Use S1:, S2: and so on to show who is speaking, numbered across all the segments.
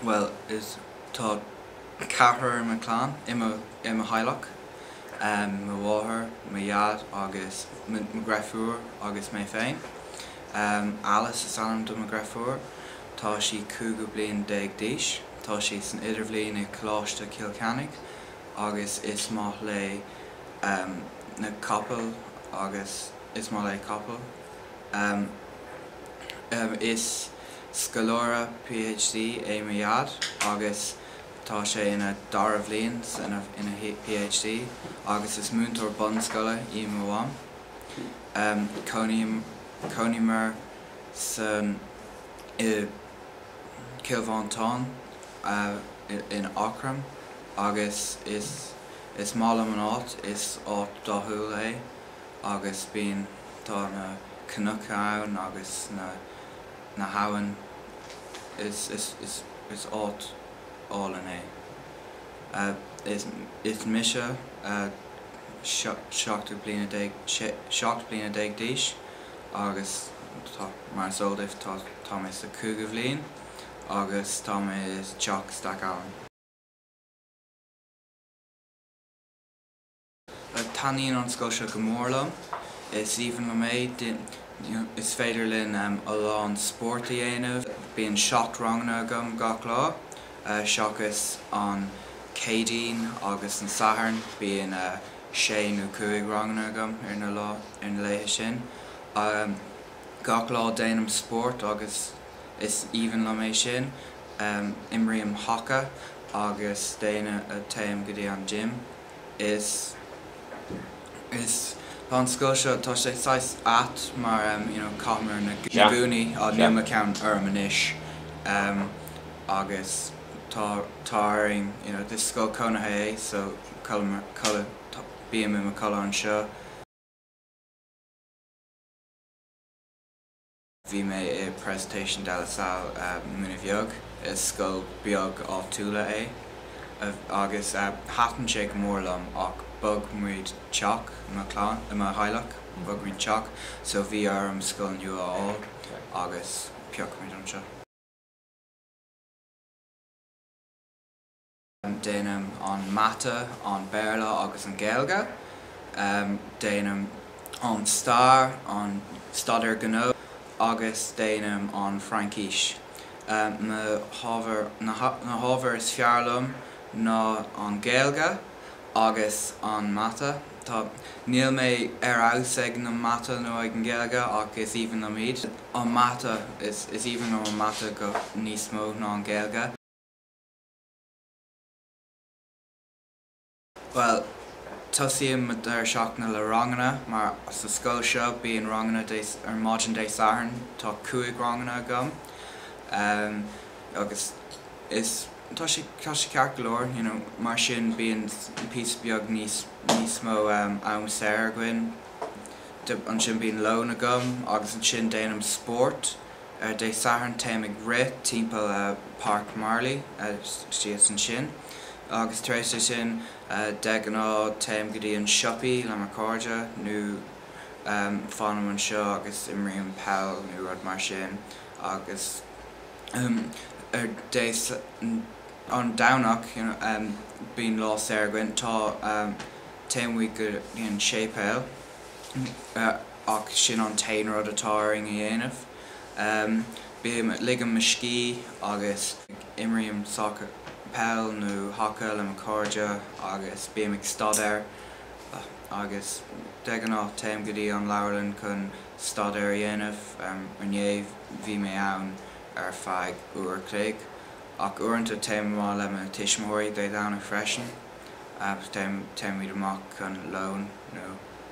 S1: Bhuel, is tá ceathrar i mo chlann, i mo, i mo theaghlach. Mo mháthair, mo dhaid agus mo, mo dheirfiúr agus mé féin. Alice is ainm do mo dheirfiúr. Tá sí cúigeadh bliain déag d'aois. Tá sí san idirbhliain i Coláiste Chill Cheannaigh agus is maith léi. na capaill agus is maith léi capaill. Is scoláire PhD é mo Dhaid agus tá sé ina dara bhliain san ina PhD agus is múinteoir bunscoile í mo Mham. Cónaímid san i Cill Mhantáin in Eachroim agus is. Is maith liom an áit, is áit dathúil é agus bíonn, tá na cnoic ann agus na, na habhainn, is, is, is, is áit álainn é. Is, is mise seacht bliana déag, seacht bliana déag d'aois agus tá, mar is eol daoibh, tá, tá mé sa chúigiú bhliain agus tá mé i dTeach Stackallen. Taithníonn an scoil seo go mór liom. Is aoibhinn liom é. Is féidir linn a lán spóirt a dhéanamh. Bíonn seacht ranganna agam gach lá, seachas an Céadaoin agus an Satharn. Bíonn sé nó cúig ranganna agam ar na laethe sin. Gach lá déanaim spórt agus is aoibhinn liom é sin. Imrím haca agus déana téim go dtí an gym. Is is tá an scoil seo, tá sé saghas ait mar em you know caithimid na na gúnaí á níl mo cheann orm anois em agus tá tá orainn you know is scoil cónaithe é so codlaímid codlaím bím i mo chodladh anseo. Bhí mé i Presentation de la Salle Muine Bheag, is scoil beag áitiúla é, agus thaitin sé go mór liom, ach bhog muid teach i mo chlann, i mo theaghlach, bhog muid teach, so bhí orm scoil nua a fháil, agus phioc muid anseo. Déanaim an Mata, an Béarla agus an Gaeilge. Déanaim an Stair, an Staidéar Gnó agus déanaim an Fraincís. Na hábhair, na hábhair is fearr liom ná an Gaeilge agus an Mata. Tá, níl mé ar fheabhas ag na Mata nó ag an Gaeilge ach is aoibhinn liom iad. An Mata, is aoibhinn liom an Mata go, níos mó ná an Gaeilge. Bhuel, tosaíonn mo deireadh seachtaine le ranganna mar sa scoil seo bíonn ranganna Dé, ar maidin Dé Sathairn, tá cúig ranganna agam ehm agus is, tá sé, tá sé ceart go leor you know mar sin bíonn píosa beag níos, níos mó ehm am saor againn, ansin bíonn lón agam agus ansin déanaim spórt. Ar Dé Sathairn téim ag rith timpeall Páirc Marley síos ansin agus tar éis sin de ghnáth téim go dtí an siopaí le mo cairde nó fanaim anseo agus imrím peil nó rud mar sin agus ar Dé an Domhnach bíonn lá saor againn tá téann muid go dtí an séipéal. ach sin an t-aon rud atá orainn a dhéanamh. Bím, ligim mo scíth agus imrím sacar, peil nó haca le mo chairde agus bím ag staidéar agus de ghnáth téim go dtí an leabharlann chun staidéar a dhéanamh. Inniu bhí mé ann ar feadh uair a chloig. Ach uaireanta téim amach le mo tuismitheoirí Dé Domhnaigh freisin. téimid amach chun lóin nó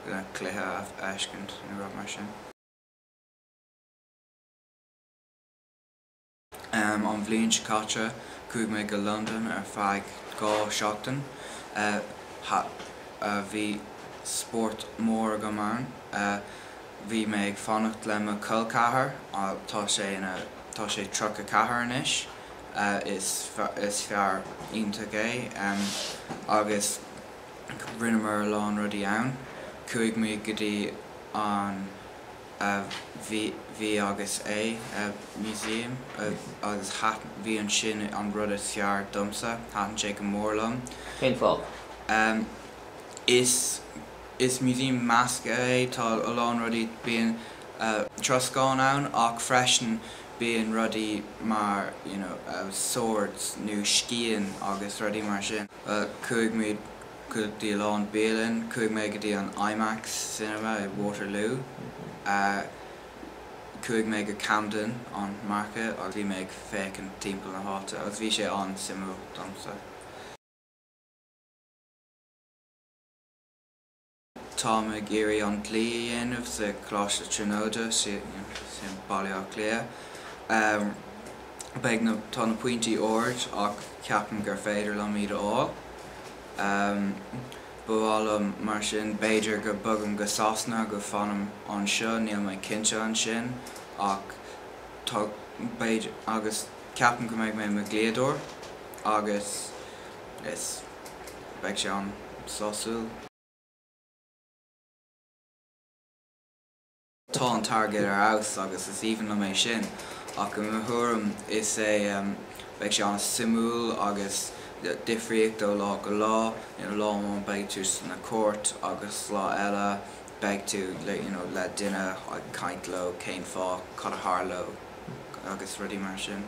S1: le cluiche a fheiscint nó rud mar sin. An bhliain seo caite chuaigh mé go dtí Londain ar feadh dhá seachtain. Bhí spórt mór agam ann. Bhí mé ag fanacht le mo cholcheathar, tá sé tríocha ceathair anois. Is fear iontach é agus rinneamar a lán rudaí ann. Chuaigh mé go dtí an V agus A museum agus bhí sin an rud is fearr domsa. Thaitin sé go mór liom. Cén fáth? Is museum measctha é. Tá a lán rudaí. Bíonn troscán ann ach freisin Bíonn rudaí mar, you know, swords nó scian agus rudaí mar sin. Chuaigh muid go dtí a lán bialann. Chuaigh mé go dtí an Imax Cinema i Waterloo. Chuaigh mé go Camden, an market, agus bhí muid ag féachaint timpeall na háite agus bhí sé an-suimiúil domsa. Táim ag iarraidh an dlí a dhéanamh sa Choláiste Tríonóide, sin i mBaile Átha Cliath. Beidh na, tá na pointí ard ach ceapaim gur féidir liom iad a fháil. Ba mhaith liom mar sin, b'fhéidir go bogaim go Sasana agu fanaim anseo, níl mé cinnte ansin ach tá, b'fhéidir, agus ceapaim go mbeidh mé i mo dhlíodóir agus. Is beidh sé an-sásúil. Tá an t-airgead ar fheabhas agus is aoibhinn liom é sin. Ach i mo thuairim is é beidh sé an-suimiúil agus difríocht ó lá go lá, you know, lá amháin beidh tú sna cúirt agus lá eile beidh tú le, you know, le duine ag caint leo, cén fáth, cad a tharla agus rudaí mar sin.